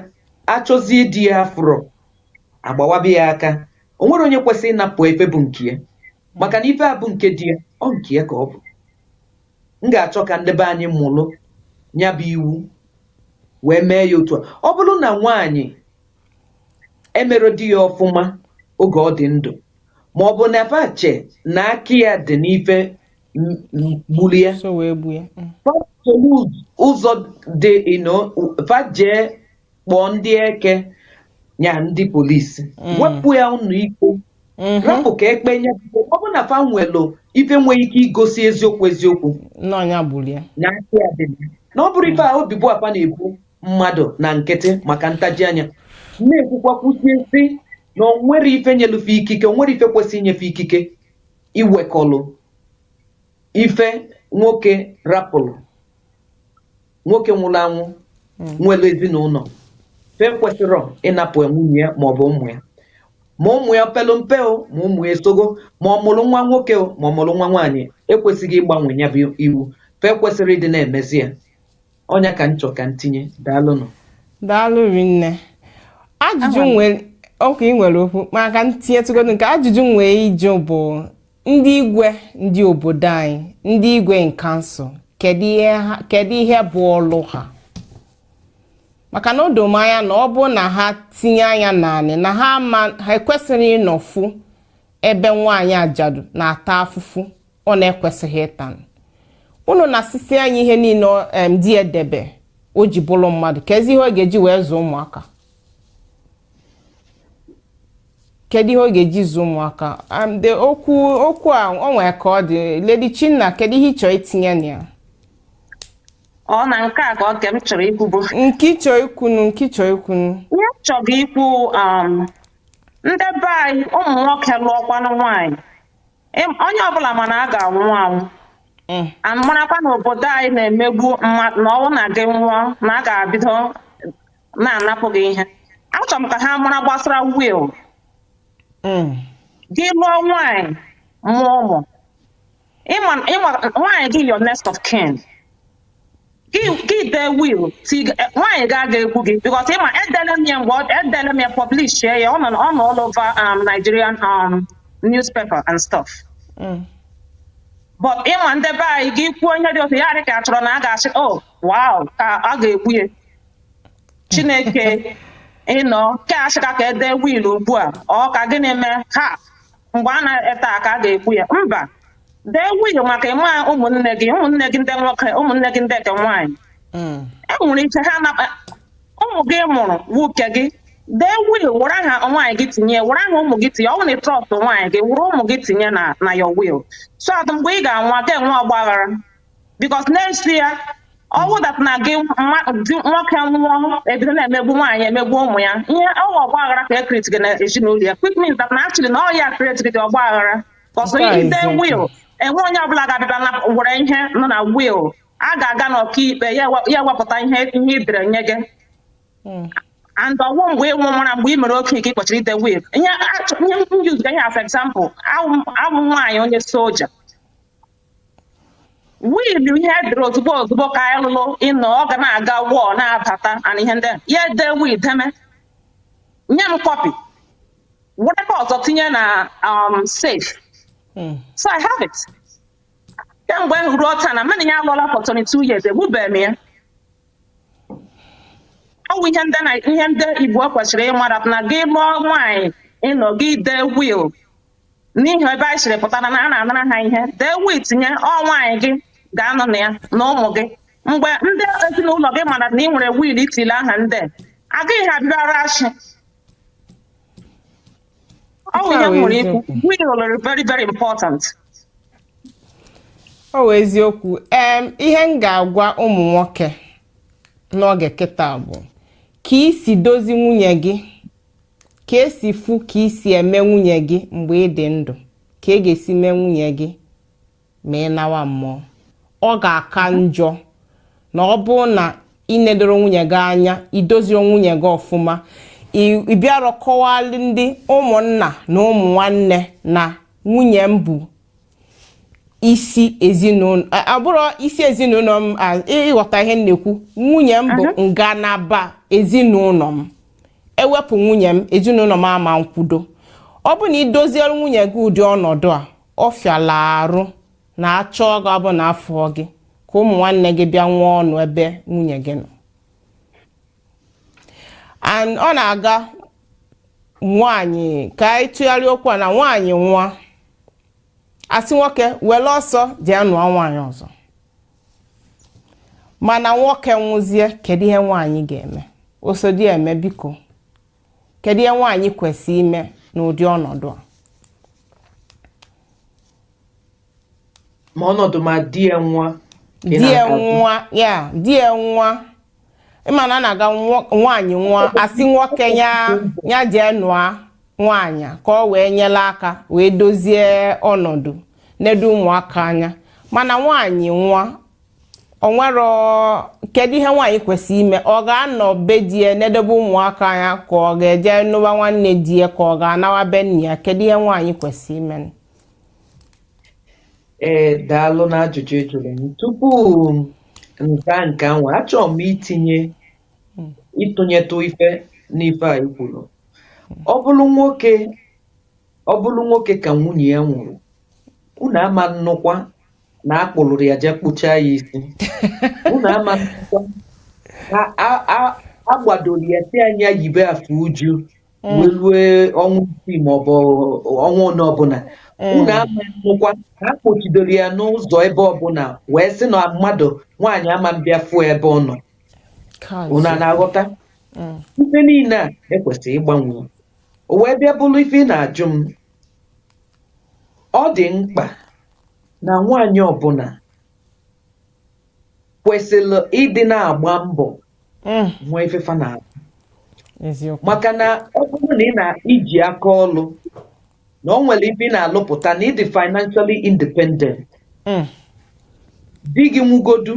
a chọzie di ya afụrọ a gbawaba ya aka o nwerọ onye kwesịrị ịnapụ ya ife bụ nke ya maka na ife a bụ nke di ya ọ nke ya ka ọ bụ m ga-achọ ka ndị be anyị mụrụ ya bụ iwu wee mee ya otu a ọ bụrụ na nwaanyị emere di ya ọfụma oge ọ dị ndụ ma ọ bụ na fa che na aka ya dị n'ife m- m- gburu ya so wee gbuo ya Mm. fa chelu ụzọ dị ino fa jee kpọọ ndị eke ya ndị polisi Mm. wepụ ya ụlọ ikpe rapụ ka e kpee nya ọ bụrụ na fa nwelụ ife nwee ike igosi eziokwu eziokwu na ọ nya gburu ya na aka ya dị mana ọ bụrụ ife a ebubo a fa na-ebo mmadụ na nkịtị maka ntaji anya m na-ekwukwa kwusie si na o nwerọ ife nyelu fe ikike o nwerọ ife kwesịrị inye fe ikike iwekọlụ ife nwoke rapụrụ nwoke nwụrụ anwụ nwere ezinụlọ fe ekwesịrọ ịnapụ nwunye ya ma ọ bụ ụmụ ya ma ụmụ ya pelu mpe o ma ụmụ ya esogo ma ọ mụrụ nwa nwoke o ma ọ mụrụ nwa nwaanyị e kwesịgo ịgbanwe ya bụ iwu fe ekwesịrọ ịdị na-emezi ya ọ nya ka m chọ ka m tinye daalụnụ daalụ rinne ajụjụ m nwere okay ị nwere okwu ka m tinyetụgodo nke a ajụjụ m nwee ịjụ bụ ndị igwe ndị obodo anyị ndị igwe in council kedu ihe ha- kedu ihe bụ ọlụ ha maka na o doro m anya na ọ bụ na ha tinye anya naanị na ha ma ha ekwesịrị ịnọfu ebe nwaanyị ajadu na-ata afụfụ ọ na-ekwesịghị ịta unu nasịsịa ya ihe niile ọ- em, di ya debe o ji bụrụ mmadụ kezi ihe ọ ga-eji wee zụọ ụmụaka kedu ihe ọ ga-eji zụ ụmụaka Um, the okwu okwu a o nwere ka ọ dị lady chinna kedu ihe ị chọrọ itinye na ya ọ na nke a ka oke m chọrọ ikwu bụ nke ị chọrọ ikwunu nke ị chọrọ ikwunu ihe m chọrọ ikwu um, ndị be anyị ụmụ nwoke lụọkwanụ nwaanyị Em- onye ọbụla ma na a ga-anwụ anwụ Mm. a marakwa na obodo anyị na-emegbu mmadụ na ọnwụ na gị nwụọ na a ga-abido na-anapụ gị ihe achọrọ m ka ha mara gbasara will Mm. gị lụọ nwaanyị mụọ ụmụ ịma ịma nwaanyị gị your next of kin gị gị dee will ti nwaanyị gị aga egbu gị because ịma edele m ya mgbe ọ- edele m ya publish ya ọ nọ ọ nọ all over um, Nigerian um, newspaper and stuff Mm. but ịma ndị be anyị gị kwuo onye dị otu ya dị ka a chọrọ na a ga-asị oh wow ka a ga-egbu ya chineke you know ka a sịkwa ka e dee will ugbu a ọ ka gịnị mee ha mgbe a na-ete aka a ga-egbu ya mba dee will maka ịma ụmụnne gị ụmụnne gị ndị nwoke ụmụnne gị ndị nke nwaanyị Mm. e nwere ike ha na ụmụ gị mụrụ nwoke gị dee will were aha nwaanyị gị tinye were aha ụmụ gị tinye ọ bụrụ na ị trust nwaanyị gị were ụmụ gị tinye na na ya will so that mgbe ị ga-anwụ a ga-enwe ọgbaghara because na isi ya ọ wụ that na gị nwoke nwụọ e bido na-emegbu nwaanyị emegbu ụmụ ya ihe ọ wụ ọgba aghara ka e create-rị na ezinụlọ ya which means that na actually na ọ ya create-rị the ọgba aghara because i dee will enwe onye ọbụla ga-abịa na were ihe nọ na will a ga-aga n'ọkaikpe ya wepụta ihe ihe e dere nye gị hmm. and ọ wụ mgbe ị nwụwara mgbe ị mere okenye ka ị kwesịrị ide will ihe m use ihe as example awụ m nwaanyị onye soja will ya e dere ozugbo ozugbo ka anyị lụrụ you know ọ ga na-aga war na-abata and ihe ndị a. ya edee will then nye m copy were nke ọzọ tinye na um, safe Mm. so i have it kemgbe m ruo taa na mụ na ya alụọla for 22 years egbubeghị m ya ọ bụ ihe ndị na ihe ndị igbo kwesịrị ịma that na gị lụọ nwaanyị you know gị dee will n'ihi ebe anyị siri pụtara na a na-anara ha ihe dee will nye ọ nwaanyị gị ga-anọ na ya na ụmụ gị mgbe ndị ezinụlọ gị mara na ị nwere will itile aha ndị agaghị ha bịara achị ọ bụ ihe m nwere ikwu will lụrụ very very important ọ wụ eziokwu em ihe m ga-agwa ụmụ nwoke n'oge kịta bụ ka i si dozie nwunye gị ka esi fụ ka i si eme nwunye gị mgbe ị dị ndụ ka e ga-esi mee nwunye gị ma ị nawa mmụọ ọ ga-aka njọ na ọ bụrụ na ị nedoro nwunye gị anya i doziro nwunye gị ọfụma ị bịara kọwalụ ndị ụmụnna na ụmụ nwanne na nwunye m bụ isi ezinụlọ a- abụrọ isi ezinụlọ m a- ị- ịghọta ihe m na-ekwu nwunye m bụ ngalaba ezinụlọ m e wepụ nwunye m ezinụlọ m ama nkwudo ọ bụ na ị doziere nwunye gị ụdị ọnọdụ a ọ fịala arụ na a chọọ gị ọ bụ na afụghị ka ụmụ nwanne gị bịa nwee ọnụ ebe nwunye gị nọ and ọ na-aga nwaanyị ka anyị tụgharịa okwu a na nwaanyị nwụa a sị nwoke were ọsọ jee ya nụọ nwaanyị ọzọ mana nwoke nwụzie kedu ihe nwaanyị ga-eme osodieme biko kedu ihe nwaanyị kwesịrị ime n'ụdị ọnọdụ a ma ọnọdụ ma di ya nwụa di ya nwụa ya di ya nwụa ị ma na a na-aga nwaanyị nwụa a sị nwoke ya ya jee nụa nwaanyị ka ọ wee nyela aka wee dozie ọnọdụ nedo ụmụaka anya mana nwaanyị nwa onwe ya kedu ihe nwaanyị kwesịrị ime ọ ga-anọ be di ya na-edebe ụmụaka ya ka ọ ga-eje nụwa nwanne di ya ka ọ ga-anawa be nna ya kedu ihe nwaanyị kwesịrị ime ee daalụ na ajụjụ ị jụrụ m tupu m kaa nke ahụ achọrọ m itinye ịtụnyetụ ife n'ife a i kwuru ọ bụrụ nwoke ọ bụrụ nwoke ka nwunye ya nwụrụ unu ama nnụkwa na a kpụrụrụ ya jee kpụchaa ya isi unu ama nnụkwa na a- a- a gbadoro ya sị nya yibe afe uju wee rue ọnwa isii maọbụ ọnwa ole ọbụla unu ama nnụkwa na a kpọchidoro ya n'ụzọ ebe ọbụla wee sị na mmadụ nwaanyị ama mbịa fụọ ebe ọ nọ unu a na-aghọta ife niile a e kwesịrị ịgbanwe o wee bịa bụrụ ife ị na-ajụ m ọ dị mkpa na nwaanyị ọbụna kwesịrị ịdị na-agba mbọ Mm, nwee ife fa na-alụ eziokwu maka na ọ bụrụ na ị na-iji aka ọlụ na o nwere ife ị na-alụpụta na ị dị financially independent Mm, di gị nwụgodu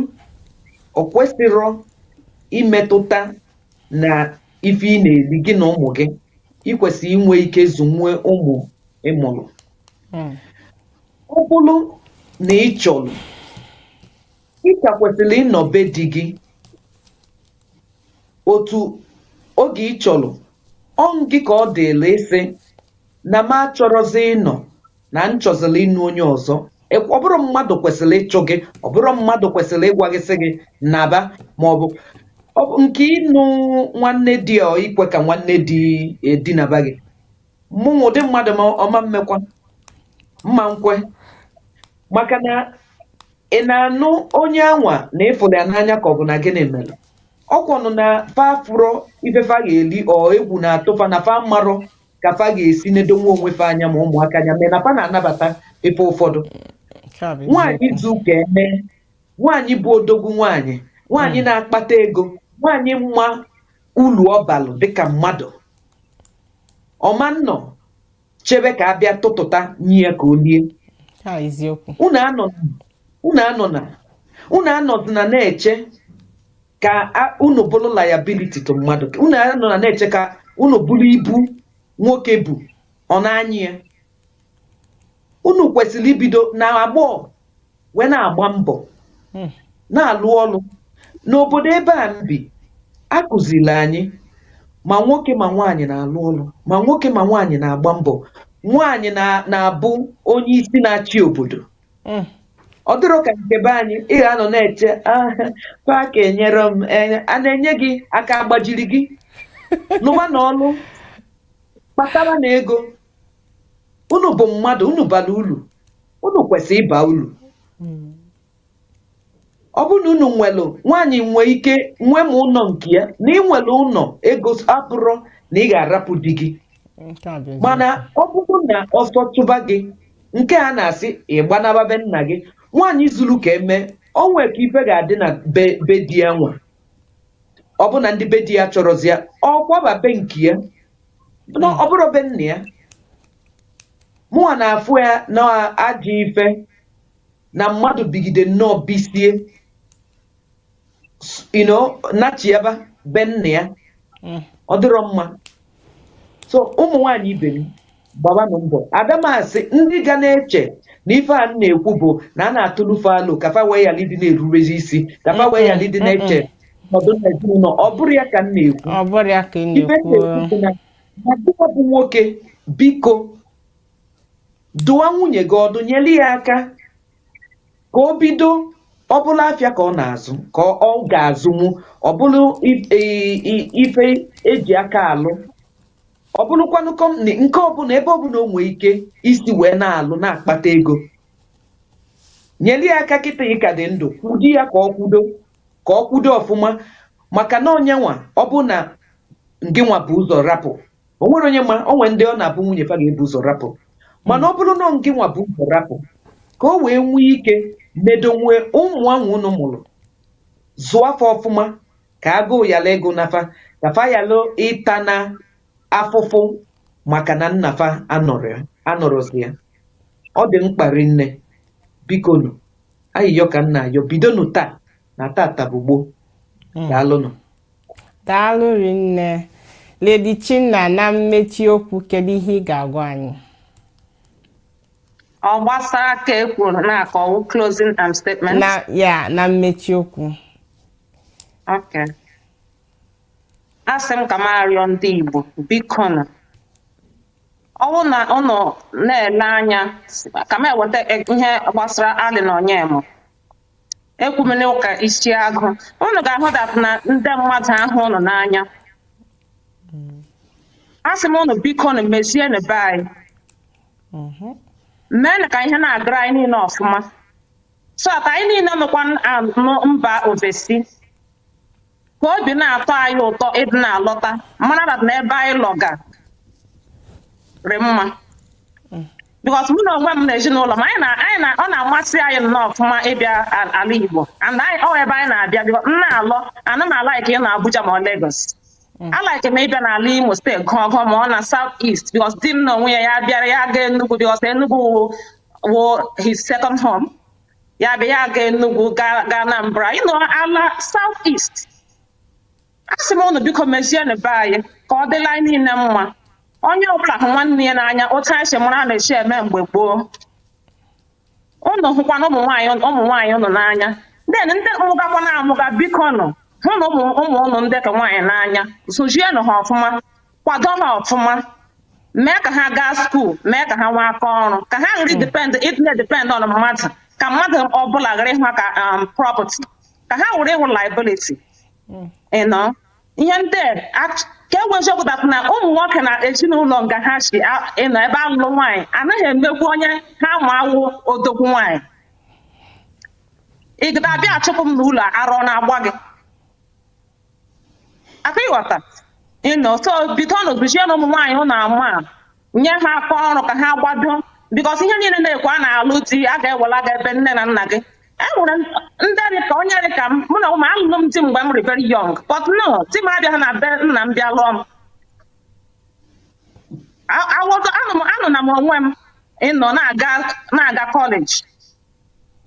o kwesịrọ imetụta na ife ị na-eli gị na ụmụ gị i kwesịrị inwe ike zụnwuo ụmụ ị mụlụ hmm. ọ bụrụ na ị chọrọ ị ka kwesịrị ịnọ be di gị otu oge ị chọrọ ọ gị ka ọ dịrị ịsị na m achọrọzi ịnọ na m chọziri ịnụ onye ọzọ Ekw- ọ bụrọ mmadụ kwesịrị ịchụ gị ọ bụrọ mmadụ kwesịrị ịgwa gị sị gị naba ma ọ bụ ọ bụ nke ịnụ nwanne di ọ ikwe ka nwanne di dinaba gị mụnwa ụdị mmadụ m ọ ma mmekwa m ma nkwe maka na ị na-anụ onye anwa na ị fụlụ ya n'anya ka ọ bụ na gịnị mere ọ kwanụ na fa fụrọ ife fa ga-eli ọ egwu na-atụ fa na fa marọ ka fa ga-esi nedonwu onwe fa anya ma ụmụaka anya mee na fa na-anabata ife ụfọdụ Nke a bụ nwaanyị eziokwu. zulu ka eme nwaanyị bụ odogwu nwaanyị nwaanyị na-akpata ego nwaanyị ma ulu ọ balụ dịka mmadụ ọ ma nnọ chebe ka a bịa tụtụta nye ya ka o lie Nke a eziokwu. unu anọ unu anọna unu anọzina na-eche ka a- unu bụrụ liability to mmadụ unu anọna na-eche ka unu bụrụ ibu nwoke bu ọ na-anyị ya unu kwesịrị ibido na agbọghọ wee na-agba mbọ Mm. na-alụ ọlụ n'obodo ebe a m bi a kụziri anyị ma nwoke ma nwaanyị na-alụ ọlụ ma nwoke ma nwaanyị na-agba mbọ nwaanyị na- na-abụ onye isi na-achị obodo hmm. ọ dịrọ ka nke be anyị ị ga-anọ na-eche ah, fa aka enyerọ m eh, a na-enye gị aka agbajiri gị lụbanụ ọlụ kpataranụ ego unu bụ mmadụ unu bara ulu unu kwesịrị ịba ulu hmm. ọ bụrụ na unu nwere nwaanyị nwee ike nwee ma ụnọ nke ya na i nwere ụnọ ego abụrọ na ị ga-arapụ di gị nke a bụ eziokwu. mana ọ bụrụ na ọsọ chụba gị nke a na-asị ị gbanaba be nna gị nwaanyị zuru ka eme o nwee ka ife ga-adị na be be di ya nwa ọ bụ na ndị be di ya achọrọzi ya ọ kwaba be nke ya na ọ bụrọ be nna ya mụnwa na-afụ ya na ajọ ife na mmadụ bigide nnọọ bisie ino nachi ebe be nna ya mm. ọ dịrọ mma so ụmụ nwaanyị ibe m gbabanụ mbọ ada m asị ndị ga na-eche na ife a na-ekwu bụ na a na-atụlụ fa alo ka fa wee yala ịdị na-erurezi isi ka fa wee yala ịdị na-eche ọdụ na ezinụlọ ọ bụrọ ya ka m na-ekwu ife m na-ekwu bụ nwoke biko dụwa nwunye gị ọdụ nyere ya aka ka o bido ọ bụrụ afịa ka ọ na-azụ ka ọ ọ ga-azụnwu ọ bụrụ i- i- i- ife e ji aka alụ ọ bụrụkwanụ kọmpani nke ọbụla ebe ọbụla o nwee ike isi wee na-alụ na-akpata ego nyere ya aka kịta ị ka dị ndụ kwudi ya ka o kwudo ka o kwudo ọfụma maka na onye ma ọ bụ na ngịnwa bu ụzọ rapụ o nwerọ onye ma o nwere ndị ọ na-abụ nwunye fa ga-ebu ụzọ rapụ mana ọ bụrụ na ọ gị nwa bu ụzọ rapụ ka o wee nwee ike medonwu ụmụ ahụ unu mụrụ zụọ fa ọfụma ka agụụ yala ịgụ na fa ka fa yalụ ịta na afụfụ maka na nna fa anọrọ anọrọzi ya ọ dị mkpa rinne biko nụ ayịyọ ka m na-ayọ bidonụ taa na tata bụ gboo daalụnụ daalụ rinne Lady Chinna na mmechi okwu kedu ihe ị ga-agwa anyị ọ gbasara ka e kwuru na ka ọ wụ closing um, statement na ya na mmechi okwu Okay. asị m ka m arịọ ndị Igbo biko nụ ọ bụrụ na ụnụ na-ele anya ka m eweta e- ihe gbasara Allen Onyema ekwumene ụka isi agụ unu ga-ahụ that na ndị mmadụ hụ ụnụ n'anya asị m ụnụ biko nụ mezienụ be anyị Mhm. meenụ ka ihe na-agara anyị niile ọfụma so ka anyị niile nọkwa na mba ofesi ka obi na-atọ anyị ụtọ ịdị na-alọta mara na n'ebe anyị lọga rị mma because mụ na onwe m na ezinụlọ m anyị na anyị na ọ na-amasị anyị nnọọ ọfụma ịbịa al- ala Igbo and anyị ọ ebe anyị na-abịa because m na-alọ ana m alaiki ịnọ Abuja ma ọ Lagos alaiki m ịbịa n'ala Imo State gụọ gụọ ma ọ na South East because di m na onwe ya ya bịara ya gaa Enugu because Enugu wụ his second home ya bịa ya gaa Enugu gaa gaa Anambra anyị nọ ala South East asị m unu biko mezienụ be anyị ka ọ dịla anyị niile mma onye ọbụla hụ nwanne ya n'anya otu anyị si mụrụ a na-esi eme mgbe gboo unu hụkwanụ ụmụ nwaanyị ụmụ nwaanyị unu n'anya then ndị mụgakwa na-amụga biko nụ hụnụ ụmụ ụmụ unu ndị ke nwaanyị n'anya zụzienụ ha ọfụma kwado ha ọfụma mee ka ha gaa skuul mee ka ha nwee aka ọrụ ka ha ghara depend ịdị na depend on mmadụ ka mmadụ ọbụla ghara ịhụ ha ka um, property ka ha ghara ịwụ liability you know ihe ndị a act- ka enwe eziokwu that na ụmụ nwoke na ezinụlọ nga ha si a- you know ebe a lụlụ nwaanyị anaghị emegbu onye ha ma wụ odogwu nwaanyị ị ga-abịa achụpụ m n'ụlọ ara ọ na-agba gị aka ịghọta you know so bikonụ zụzienụ ụmụ nwaanyị ụnụ ama a, nye ha aka ọrụ ka ha gbado because ihe niile a na-ekwu a na-alụ di a ga-ewela gị ebe nne na nna gị e nwere ndị dị ka onye dị ka m mụnwa um alụlụ m di mgbe m dị very young but no di m abịaghị na be nna m bịa lụọ m A- awogo anọ m anọ na m onwe m you know na-aga na-aga college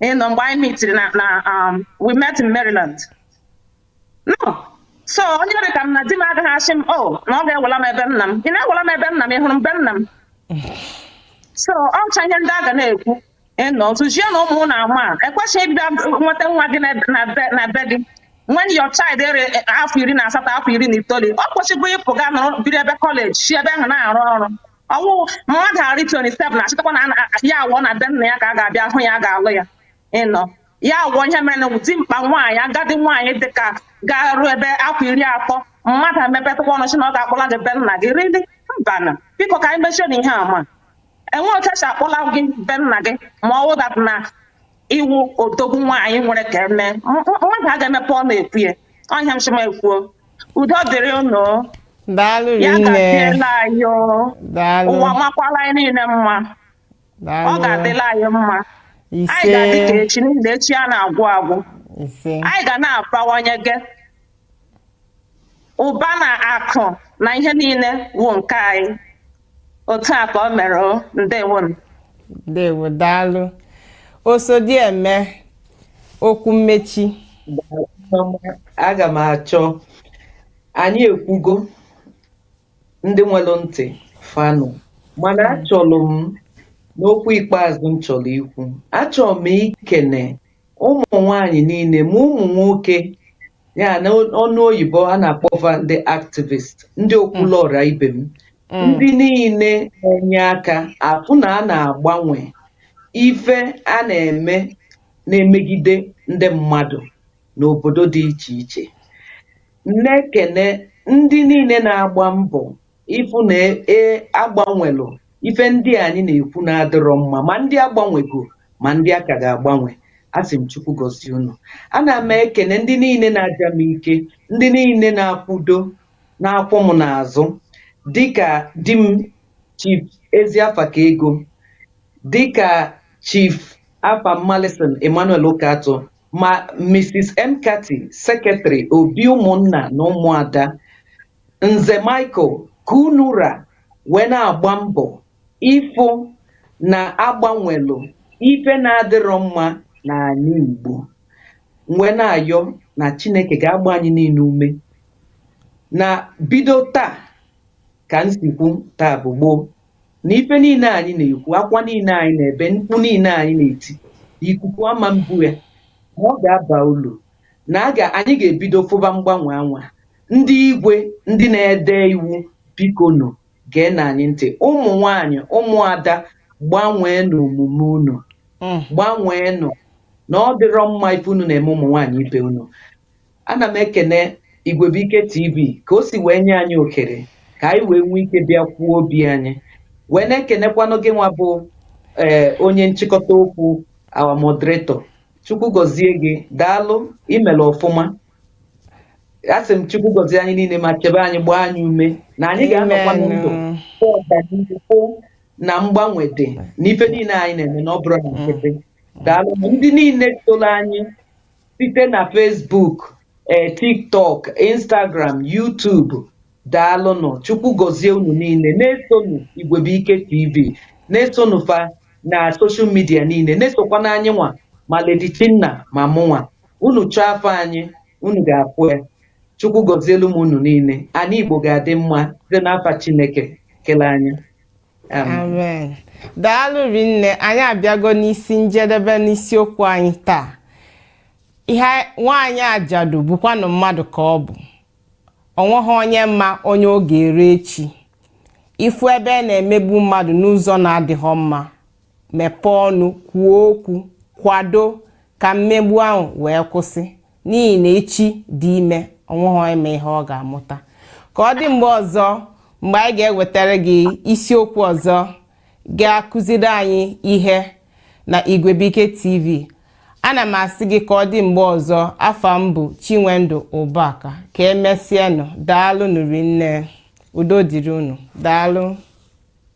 you know mgbe anyị meetiri na na um, we met in Maryland so onye dị ka m na di m agaghị asị m o oh, na ọ ga-ewela m ebe nna m ị na-ewela m ebe nna m ị hụrụ m be nna m so ọ wụcha ihe ndị a ga na-ekwu you know zụzienụ ụmụ ụnụ ama ekwesịghị ịbịa nweta nwa gị na be gị when your child eruo eh, afọ iri na asatọ afọ iri na itoolu o kwesigo ịpụ ga nọrọ biri ebe college si ebe ahụ na-arụ ọrụ ọ wụ mmadụ arị 27 na-achịtakwa na ya awụọ na be nna ya ka a ga-abịa hụ ya a ga-alụ ya you know ya wụ ihe mere na dimkpa nwaanyị agadi nwaanyị dịka ga-eru ebe afọ iri atọ mmadụ emepetụkwa ọnụ sị na ọ ga-akpọla gị be nna gị really mbanụ biko ka anyị mechie na ihe ama enwe otu e si akpọla gị be nna gị ma ọ wụ that na ị wụ odogwu nwaanyị nwere ka eme mmadụ a ga-emepe ọnụ ekwu ya ọ ihe m sị m ekwuo udo dịrị unu daalụ ya rinne gaziela anyị o. daalụ ụwa makwala anyị niile mma ọ ga-adịla anyị mma anyị ga-adị ka echi n'ihi na echi anaghị agwụ agwụ anyị ga na-abawanye gị ụba na akụ na ihe niile wụ nke anyị otu a ka o mere o ndewo m ndewo daalụ Osodieme okwu mmechi aga m achọ anyị ekwugo ndị nwelu ntị fa nụ mana achọrọ m n'okwu ikpeazụ m chọlọ ikwu achọrọ m ikene ụmụ nwanyị niile ma ụmụ nwoke ya n'ọnụ oyibo a na-akpọ fa ndị activist ndị okwulu ọra ibe m ndị niile na-enye aka afụ na a na-agbanwe ife a na-eme na-emegide ndị mmadụ n'obodo dị iche iche na-ekene ndị niile na-agba mbọ ịfụ na e, e a gbanwelụ ife ndị anyị na-ekwu na-adịrọ mma ma ndị a gbanwego ma ndị a ka ga-agbanwe asị m chukwu gọzie unu ana m ekene ndị niile na-aja m ike ndị niile na-akwụdo na-akwụ m n'azụ dịka di m chief ezi afa ka ego dịka chief afam mallinson emmanuel ụkatụ Ma Mrs. McCarthy, Sekretịrị Obi Ụmụnna na Ụmụada, Nze Michael Kunura wee na-agba mbọ ịfụ na a gbanwelụ ife na-adịrọ mma n'anị Igbo. M wee na-ayọ na Chineke ga-agba anyị niile ume na bido taa ka m si kwu taa bụ gboo na ife niile anyị na-ekwu akwa niile anyị na-ebe mkpu niile anyị na-eti ikuku ama mbu ya na ọ ga-aba ulu na a ga anyị ga-ebido fụba mgbanwe anwa ndị igwe ndị na-ede iwu bikonụ geenụ anyị ntị ụmụ nwanyị ụmụada gbanweenụ omume unu gbanweenụ na ọ dịrọ mma ife unu na-eme ụmụ nwaanyị ibe unu Ana m ekene Igwebuike TV ka o si wee nye anyị ohere ka anyị wee nwee ike bịa kwuo obi anyị wee na-ekenekwanụ gị nwa bụ ee eh, onye nchịkọta okwu our moderator chukwu gọzie gị daalụ i mere ọfụma asị m chukwu gọzie anyị niile ma chebe anyị gbaa anyị ume na anyị ga-anọkwa ndụ ọganihu na mgbanwe dị n'ife niile anyị na-eme na ọ bụrọ na nkịtị mm. daalụ ndị niile soro anyị site na Facebook ee TikTok Instagram YouTube daalụnụ Chukwu gọzie unu niile na-esonụ Igwebuike TV na-esonụ fa na soshal midia niile na-esokwanụ anyị nwa ma Lady Chinna ma mụnwa unu chọọ afa anyị unu ga-afụ ya Chukwu gọzielu m unu niile anị Igbo ga-adị mma site n'afa Chineke kele anyị amen daalụ rinne anyị abịago n'isi njedebe n'isiokwu anyị taa ihe nwaanyị ajadu bụkwanụ mmadụ ka ọ bụ o nweghị onye ma onye ọ ga-eru echi ị fụ ebe a na-emegbu mmadụ n'ụzọ na-adịghị mma mepee ọnụ kwuo okwu kwado ka mmegbu ahụ wee kwụsị n'ihi na echi dị ime o nweghị onye ma ihe ọ ga-amụta ka ọ dị mgbe ọzọ mgbe anyị ga-ewetara gị isiokwu ọzọ ga-akụziri anyị ihe na Igwebuike TV ana m asị gị ka ọ dị mgbe ọzọ afa m bụ Chinwendu Ụbaka ka emesịanụ daalụnụ rinne udo dịrị unu daalụ